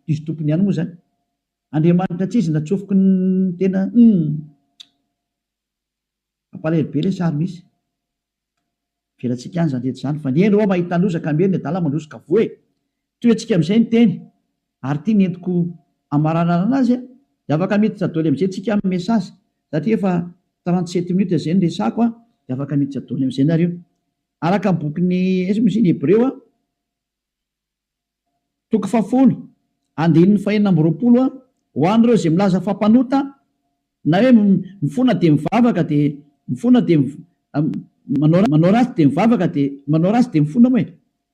Diso tompony ihany moa zany. Andriamanitra tsy izy natsofoky ny tena. Humm. Mampalahelo be ilay sary misy. Avelatsika any izany rehetra izany fa ny eny oa mahita loza ka miely ny adala mandroso ka voa e! Toy antsika amin'izay ny teny ary ity nentiko hamaranarana azy a! Dia afaka miditra doly amin'izay tsika amin'ny message satria efa trente sept minutes izay no resako a! Dia afaka miditra doly amin'izay nareo. Araka ny bokin'i aiza moa izy iny? Hebreo a? Toko fahafolo, andininy fahenina amby roapolo, Ho an'ireo izay milaza fa mpanota, na hoe mifona dia mivavaka dia mifona dia manao manao ratsy dia mivavaka dia manao ratsy dia mifona moa e!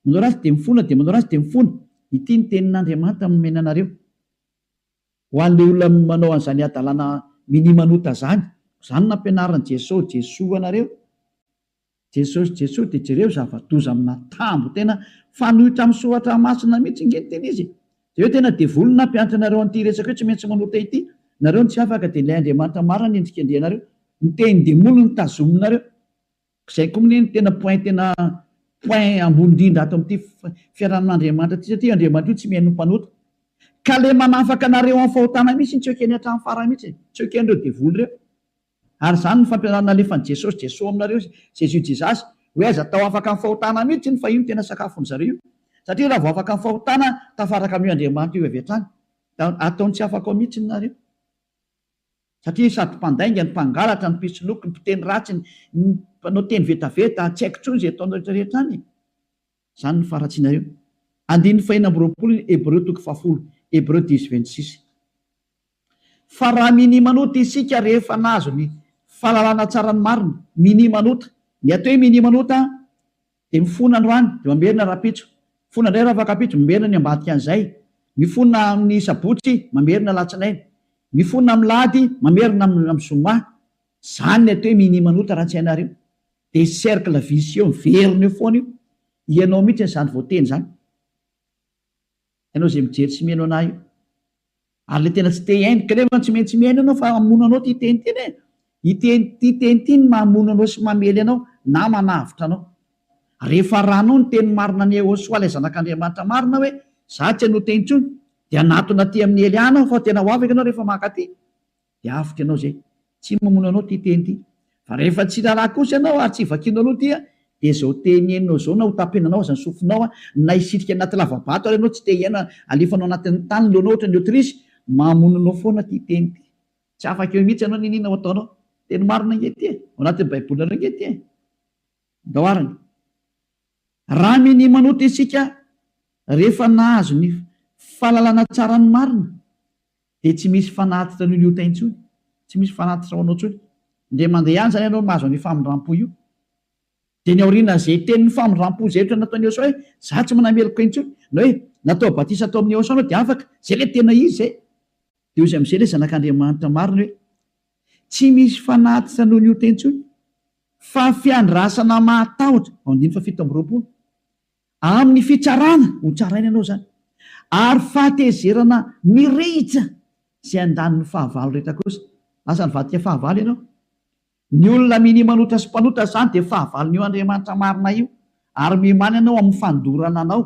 manao ratsy dia mifona dia manao ratsy dia mifona, ity ny tenin'Andriamanitra nomena anareo, ho an'ilay olona manao an'izany hadalana minia manota izany, koa izany nampianarin'i Jeso, Jesoa anareo, Jesosy Jesosy de jereo zavadoza amina tambo tena fanoitra am soratra masina mitsy nge ny tena izy e! de eo tena devoly nampianatra anareo anty resaka io tsy maintsy manota ity nareo no tsy afaka de ilay Andriamanitra marina no endrikendrehanareo ny tehin demoly no tazominareo zay ko mne no tena point tena point ambony indrindra ato amty fiarahamin Andriamanitra ty satria io Andriamanitra io tsy mihaino ny mpanota ka le manafaka anareo am fahotana mitsy tsy ekeny atram farany mitsy e! tsy ekenreo devoly reo. Ary izany no fampianarana nalefan'i Jesosy, Jeso aminareo, Jésus, Jesus, hoe aiza tao afaka ny fahotana mihitsy iny fa io no tena sakafon'ny zareo io. Satria raha vao afaka ny fahotana, tafaraka amin'io Andriamanitra io avy hatrany. Dia ataony tsy afaka ao mihitsy ny nareo. Satria sady mpandainga ny mpangalatra, ny mpisoloky, ny mpiteny ratsy, ny mpanao teny vetaveta, tsy haiko intsony izay ataonareo rehetra rehetra any e. Izany no faharatsianareo. Andininy fahenina amby roapolo ny Hebreo toko fahafolo, Hebreu dix vingt six. Fa raha minimanota isika rehefa nahazo ny fahalalana tsara ny marina, minimanota, ny atao hoe minimanota dia mifona androany dia mamerina rahampitso, mifona indray rafakapitso, mamerina ny ambadikan'izay, mifona amin'ny sabotsy, mamerina alatsinainy, mifona amin'ny lahady, mamerina amin'ny zoma. Izany ny atao hoe minimanota raha tsy hainareo. Dia cercle vicieux miverina eo foana io, ianao mihitsy izany voateny izany, ianao izay mijery sy mihaino anah io, ary ilay tena tsy te hihaino, ka nefa tsy maintsy mihaino ianao fa hamono anao ity teny ity e, ity ity teny ity no mahamono anao sy mamely anao na manavotra anao, rehefa arahanao ny teny marina an'i Yehosua ilay zanak'Andriamanitra marina hoe izaho tsy hanota intsony, dia hanatona aty amin'i Elia aho fa tena ho afaka ianao rehefa mankaty. dia avotra ianao izay. Tsy mamono anao ity teny ity. Fa rehefa tsy raharaha kosa ianao ary tsy vakianao aloha ity dia izao teny henonao izao na hotapenanao aza ny sofinao na hisitrika anaty lavabato ary ianao tsy te hiaina alefanao anatin'ny tany ny lohanao ohatran'ny otrisy, mamono anao foana ity teny ity. Tsy afaka eo mihitsy ianao n'inona ho ataonao. Teny marina ange ity e! Ao anatin'ny baibolinareo ange ity e! Ndao arany. Raha minia manota isika rehefa nahazo ny fahalalana tsara ny marina Dia tsy misy fanatitra an'io liota intsony, tsy misy fanatitra ho anao intsony. Dia mandeha ihany izany ianao mahazo an'io famindram-po io. Dia ny aorianan'izay tenin'ny famindram-po izay ohatra nataon'i Yehosua hoe, Izaho tsy manana meloka intsony, na hoe, Natao batisa tao amin'i Yehosua ianao dia afaka. Izay ilay tena izy izay. Dia hoy amin'izay ilay Zanak'Andriamanitra marina hoe, Tsy misy fanatitra noho ny ota intsony, fa fiandrasana mahatahotra. Andininy fahafito amby roapolo. Amin'ny fitsarana, ho tsaraina ianao izany, ary fahatezerana mirehitra izay andaniny fahavalo rehetra kosa. Lasa nivadika fahavalo ianao. Ny olona minia manota sy mpanota izany dia fahavalon'io Andriamanitra marina io, ary miomàna ianao amin'ny fandorana anao,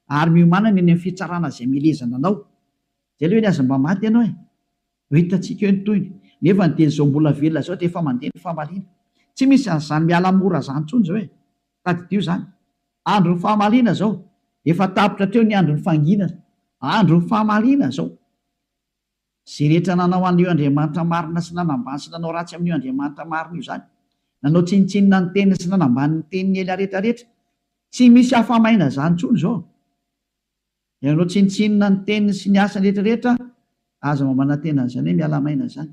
ary miomàna ny eny amin'ny fitsarana izay milezana anao. Izay aloha eny aza mba maty ianao e! Efa hitantsika eo ny tohiny. Nefany dia izao mbola velona izao dia efa mandeha ny famaliana. Tsy misy an'izany miala mora izany intsony izao e! Tadidio izany. Andron'ny fahamaliana izao. Efa tapitra hatreo ny andron'ny fanginana. Andron'ny fahamaliana izao. Izay rehetra nanao an'io Andriamanitra marina sy nanambany sy nanao ratsy amin'io Andriamanitra marina io izany. Nanao tsinontsinona ny teniny sy nanambany ny teniny ela rehetra rehetra. Tsy misy hafa-maina izany intsony izao. Ianao tsinontsinona ny teniny sy ny asany rehetra rehetra aza mamanantena an'izany hoe miala maina izany.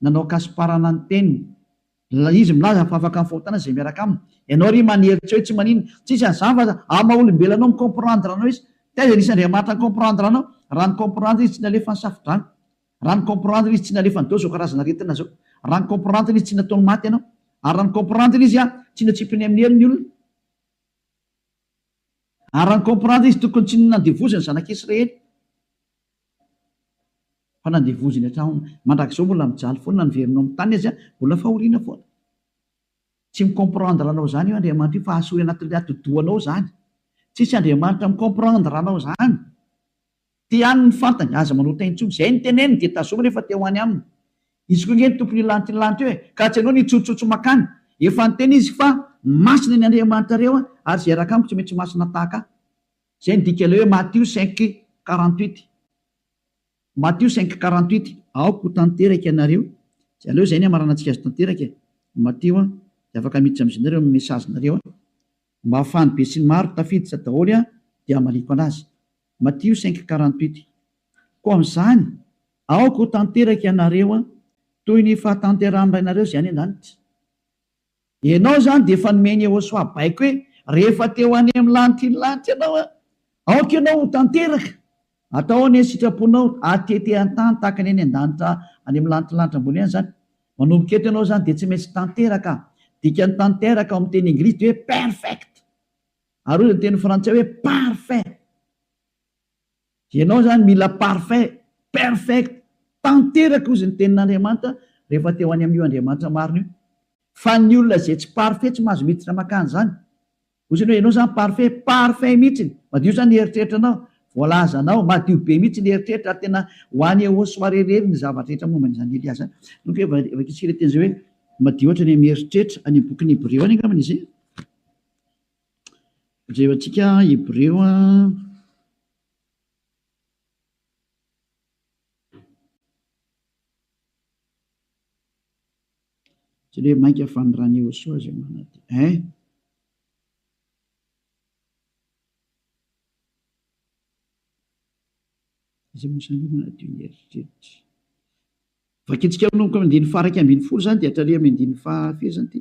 Nanao kasiparana ny teniny. Ilay izy milaza fa afaka mifahotana izay miaraka aminy. Ianao ry manery tsy hoe tsy manina. Tsisy an'izany fa aza amin'ny maha olombelona anao mi comprendre anao izy. Taiza nisy Andriamanitra ni comprendre anao? Raha ni comprendre izy tsy nalefa ny safodrano. Raha ni comprendre izy tsy nalefa ny deo zao karazana aretina zao. Raha ni comprendre izy tsy nataony maty ianao. Ary raha ni comprendre izy a tsy notsipiny amin'ny helony olona. Ary raha ny comprendre izy tokony tsy nandevoziny zanaka Israely fa nandevoziny hatramin mandrakizao mbola mijaly foana ny veriny ao amin'ny tany aza mbola fahoriana foana. Tsy mi comprendre anao zany io Andriamanitra io fa asory anatin'ny atidohanao zany. Tsisy Andriamanitra mi comprendre anao zany. Te haniny ny fantany, aza manota intsony. Izay no teneniny dia tazominy efa te ho any aminy. Izy koa ange no tompon'io lanitra io lanitra io e! Ka tsy anao ny hitsotsotso makany. Efa niteny izy fa masina ny Andriamanitrareo a! ary izay hiaraka amiko tsy maintsy masina tahaka ahy. Izay no dikan'ilay hoe Matio cinq quarante huit. Matio cinq quarante huit. Aoka ho tanteraka ianareo. Tsy aleo izay ny hamaranantsika azy tanteraka e! Matio a! dia afaka miditra amin'izay nareo amin'ny message nareo a! Mba ahafahan'ny besinimaro tafiditra daholo a! dia hamaliako anazy. Matio cinq quarante huit Koa amin'izany, aoka ho tanteraka ianareo toy ny fahatanterahan'ny Rainareo izay any an-danitra. Ianao izany dia efa nomeny Yehosoa baiko hoe rehefa te ho any amin'ny lanitr'iny lanitra ianao, aoka ianao ho tanteraka. Atao ahoana ny sitraponao hatete an-tany tahaka ny any an-danitra, any amin'ny lanitr'ny lanitra ambony any izany? Manomboka eto ianao izany dia tsy maintsy tanteraka. Dikan'ny tanteraka ao amin'ny teny Engilisy dia hoe perfect. Ary hoy ny teny frantsay hoe parfait. Ianao izany mila parfait, perfect, tanteraka hozy ny tenin'Andriamanitra rehefa te ho any amin'io Andriamanitra marina io. Fa ny olona izay tsy parfait tsy mahazo miditra makany izany. Hoy isany hoe ianao izany parfait, parfait mihitsiny, madio izany ny eritreritranao, voalazanao, madio be mihitsy ny eritreritra ary tena ho any au soir irery ny zavatra rehetra momba an'izany Elia izany. Nony koa efa vakitsika ilay teny izay hoe madio ohatra ny amin'ny eritreritra, any amin'ny bokin'ny Hebreo any angambany izay. Jerentsika Hebreo Jereo mainka fa ny Rani Ochoa izay manadio eh! Izay moa izany manadio ny eritreritra. Vakintsika manomboka amin'ny andininy faha iraika ambin'ny folo izany dia hatramin'ny andininy faha firy izany ity?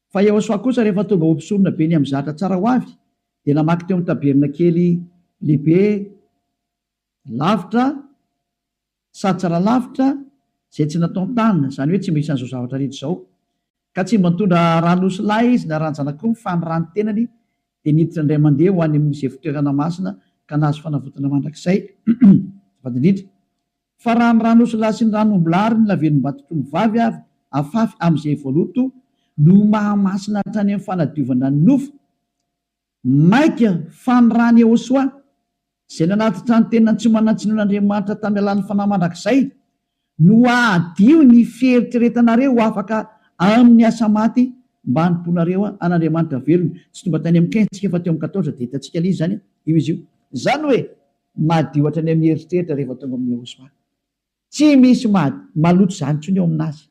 Fa Iehosoa kosa rehefa tonga ho mpisonona be niha-mizatra tsara ho avy, dia namaky teo amin'ny tabernakely lehibe lavitra sady tsara lavitra izay tsy nataon-tanana, izany hoe tsy mba isan'izao zavatra rehetra izao. Ka tsy mba nitondra ran'osilahy izy na ran-janak'omby, fa ny ràn'ny tenany dia niditra indray mandeha ho any amin'izay fitoerana masina ka nahazo fanavotana mandrakizay. Azafady indrindra. Fa raha ny ran'osilahy sy ny ran'ombilahy ary ny lavelombatotr'ombivavy ary afafy amin'izay voaloto no mahamasina hatrany amin'ny fanadiovana ny nofo, maika fa ny ran'i Ehosoa, izay nanatitra ny tenany tsy manan-tsiny ho an'Andriamanitra tamin'ny alalan'ny fanahy mandrakizay, no hadio ny fieritreretanareo ho afaka amin'ny asa maty mba hanompoanareo an'Andriamanitra velona. Tsy tonga tany amin'ny quinze tsika fa teo amin'ny quatorze dia hitantsika ilay izy izany io izy io. Izany hoe, Madio hatrany amin'ny eritreritra rehefa tonga amin'i Yehosoa. Tsy misy maloto izany intsony eo aminazy.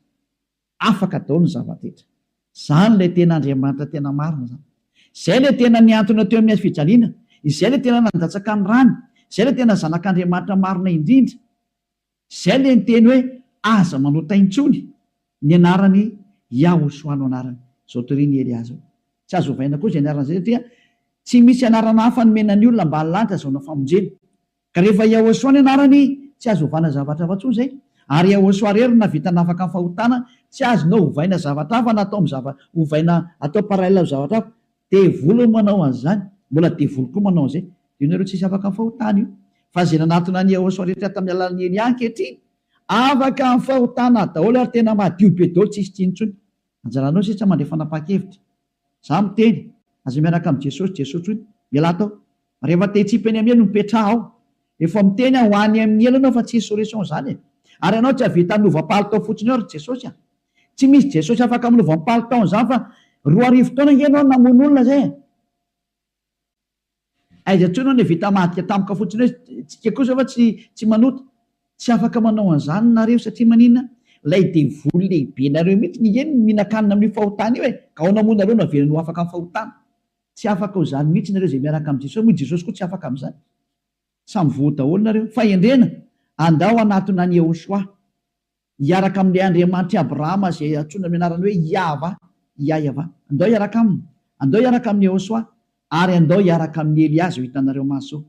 Afaka daholo ny zava-drehetra. Izany ilay tena Andriamanitra tena marina izany. Izay ilay tena nihantona teo amin'ny hazofijaliana. Izay ilay tena nandatsaka ny rany. Izay ilay tena Zanak'Andriamanitra marina indrindra. Izay le niteny hoe aza manao tay intsony ny anarany Yahoshua no anarany zao toria ny Elia zao tsy azo ovaina koa zay anarana zay satria tsy misy anarana hafa nomena ny olona mba halany hazona famonjena ka rehefa Yahoshua ny anarany tsy azo ovana zavatra hafa tsony zay ary Yahoshua rery no navita nafaka ny fahotana tsy azonao ovaina zavatra hafa na atao am zava ovaina atao parallel am zavatra hafa Devoly no manao an'izany, mbola devoly koa manao an'izay. Dia ianareo tsisy afaka fahotana io. Fa izay nanatona an'i Yehosua rehetra tamin'ny alalan'i Elia ankehitriny, afaka amin'ny fahotana daholo ary tena madio be daholo, tsisy tsy intsony. Anjaranao sisa mandray fanapahan-kevitra. Izaho miteny, aza miaraka amin'i Jesosy, Jesosy hono, ialahy tao, Rehefa te hitsipy any amin'ny elo mipetraha aho. Efa miteny aho ho any amin'ny elo ianao fa tsisy solution izany e! Ary ianao tsy hahavita hanova palitao fotsiny eo ry Jesosy a! Tsy misy Jesosy afaka manova ny palitaony izany fa roa arivo taona ange ianao no namono olona izay e! Aiza intsony aho no vita mahadika tampoka fotsiny hoe tsika kosa va tsy tsy manota? Tsy afaka manao an'izany nareo satria maninona? Ilay devoly lehibenareo mihitsy ny eny no mihinan-kanina amin'io fahotana io e! Ka ao namoa nareo no averiny ho afaka amin'ny fahotana. Tsy afaka ho izany mihitsy nareo izay miaraka amin'i Jesosy, moa i Jesosy koa tsy afaka amin'izany. Samy voa daholo nareo. Fahendrena, andao hanatona an'i Yehoshuà, hiaraka amin'ilay Andriamanitr'i Abrahama izay antsoina amin'ny anarany hoe Yahvah, Iahyavah. Andao hiaraka aminy. Andao hiaraka amin'i Yehoshuà. Ary andao hiaraka amin'i Elià izay ho hitanareo maso.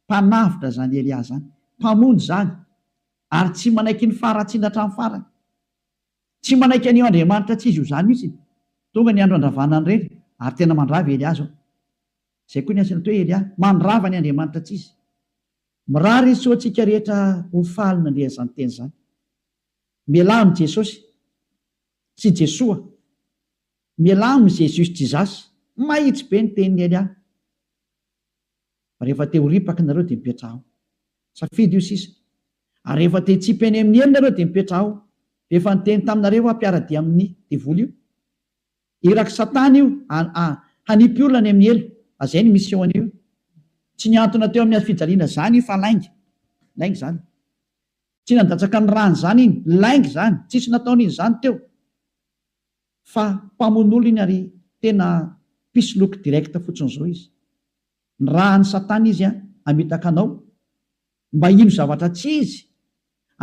Mpanavotra izany Elià izany. Mpamonjy izany. Ary tsy manaiky ny faharatsiana hatramin'ny farany. Tsy manaiky an'io Andriamanitra tsy izy io zany mihitsy. Tonga ny andro andravana an'i Reny ary tena mandrava i Elià zao. Zay koa ny hasina toe Elià, mandrava ny Andriamanitra tsy izy. Mirary izy soa antsika rehetra ho faly nandeha an'izany teny zany. Mialà amin'i Jesosy. Sy Jesoa. Mialà amin'i Jesus Jesus. Mahitsy be ny tenin'i Elià. Rehefa te ho ripaka nareo dia mipetraha ao. Safidy io sisa. Ary rehefa te hitsipy eny amin'ny eny nareo dia mipetraha ao. Dia efa niteny taminareo aho mpiara-dia amin'ny devoly io. Irak'i satana io ha, hanipy olona any amin'ny helo. Ary izay ny mission-ny io. Tsy nihantona teo amin'ny hazofijaliana izany io fa lainga. Lainga izany. Tsy nandatsaka ny rany izany iny. Lainga izany. Tsisy nataon'izy izany teo. Fa mpamono olona iny ary tena mpisoloky direct fotsiny zao izy. Ny rahan'i satana izy an hamitaka anao mba hino zavatra tsy izy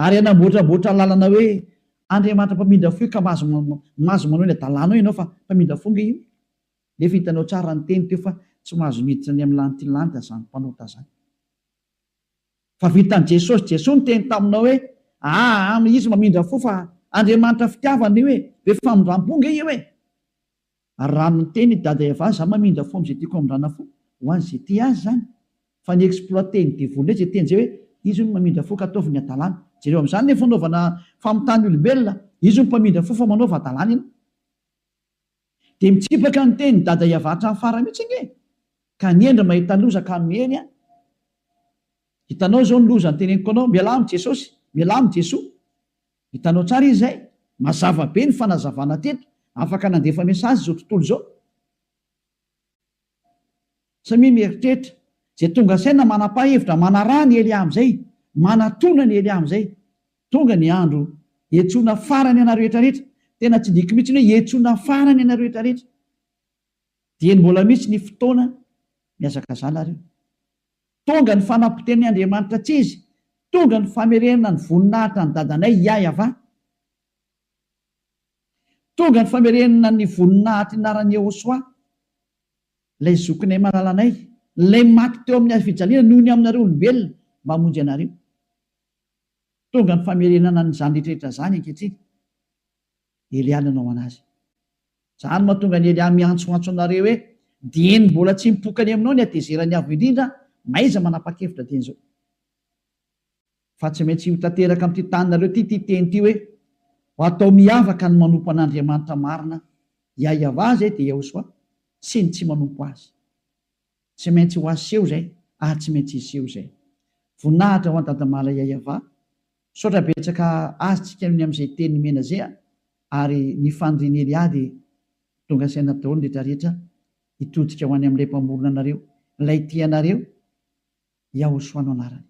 ary hanamboatramboatra lalana hoe Andriamanitra mpamindra fo io ka mahazo mahazo manao ilay dalanao ianao fa mpamindra fo nge io nefa hitanao tsara ny teny teo fa tsy mahazo miditra ny amin'ny lantilanty azany mpanota zany. Fa vitan'i Jesosy, Jesoa niteny taminao hoe aa no izy mamindra fo fa Andriamanitra fitiavana io e, be famindram-po nge io e! Ary raha miteny i Dada Eva za mamindra fo am'zay tiako hamindrana fo ho an'ny zay tia azy zany fa ni exploiter ny devoly ndray zay teny zay hoe izy hono mamindra fo ka ataovy ny adalany, jereo am'zany le fanaovana famitany olombelona, izy hono mpamindra fo fa manaova adalany ianao. Dia mitsipaka ny teny dada Yava hatramin'ny farany mihitsy ange ka aniendry mahita loza ka miely an! Hitanao izao ny loza noteneniko anao, mialà amin'i Jesosy, mialà amin'i Jesoa. Hitanao tsara izy izay? Mazava be ny fanazavana teto, afaka nandefa message izao tontolo izao. Samia mieritreritra izay tonga saina manapà hevitra manaraha ny ely amzay manatona ny ely amzay tonga ny andro hietsoana farany anareo rehetra rehetra tena tsy diko mitsy ny hoe hietsoana farany anareo rehetra rehetra dieny mbola mitsy ny fotoana miazakazana ary tonga ny fanapoteni Andriamanitra tsizy tonga ny famerenana ny voninahitra ny dadanay yayava Tonga ny famerenana ny voninahitry ny anaran'i Yehosua, ilay Zokinay malala anay, ilay maty teo amin'ny hazofijaliana noho ny aminareo olombelona, mba hamonjy anareo. Tonga ny famerenana an'izany rehetrarehetra izany ankehitriny. Elià nanao an'azy. Izany no mahatonga an'i Elià miantsoantso anareo hoe, Dieny mbola tsy mipoka any aminao ny hatezeran'ny Avo Indrindra, na iza manapa-kevitra dieny izao. Fa tsy maintsy ho tanteraka amin'ity taninareo ity ity teny ity hoe, Ho atao miavaka ny manompo an'Andriamanitra marina, Iahiavaz et Yehoswa, sy ny tsy manompo azy. Tsy maintsy ho aseho izay, ary tsy maintsy hiseho izay. Voninahitra ho an'i Dadamala Iahiava. Misaotra betsaka azy tsika ny amin'izay teny nomena izay an! Ary ny fanirian'i Elia dia tonga saina daholo ny rehetra rehetra hitodika ho any amin'ilay Mpamorona anareo, ilay tia anareo, Yahosoa no anarany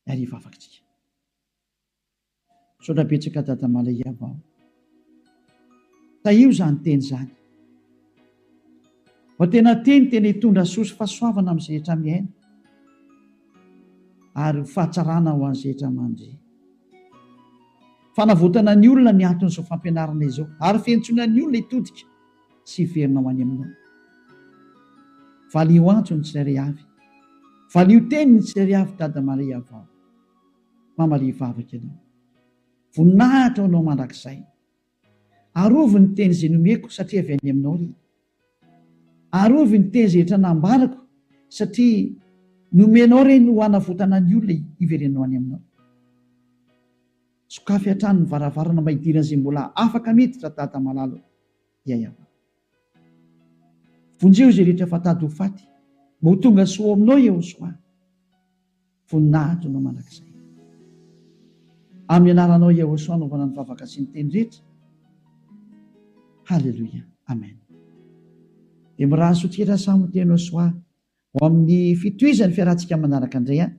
ary hivavaka tsika. Misaotra betsaka Dada Mala Iavao. Tahio zany teny zany. Fa tena teny tena hitondra soa sy fahasoavana amin'ny izay rehetra miaina ary ho fahatsarana ho an'izay rehetra mandre. Fanavotana ny olona ny anton'izao fampianarana izao ary fiantsoana ny olona hitodika. sy hiverinao any aminao. Valiho antso ny tsirairay avy, valiho teny ny tsirairay avy Dada Maria vao, Mama Lia vavaka ianao. Voninahitra ho anao mandrakizay. Arovy ny teny izay nomeko satria avy any aminao ry. Arovy ny teny izay rehetra nambarako satria nomenao ireny ho hanavotana ny olona hiverenao any aminao. Sokafy hatrany ny varavarana mba hidirana izay mbola afaka miditra Dada malala o! dia hiavahana. Vonjeo izay rehetra efa tady ho faty mba ho tonga soa ao aminao Iehosoa, voninahitrinao mandrakizay. Amin'ny anaranao Iehosoa anaovana ny vavaka sy ny teny rehetra. Haleloia. Amen. Dia miraha sotr'ira samy ho tena Iehosoa ho amin'ny fitohizan'ny fiarahantsika manaraka indray an!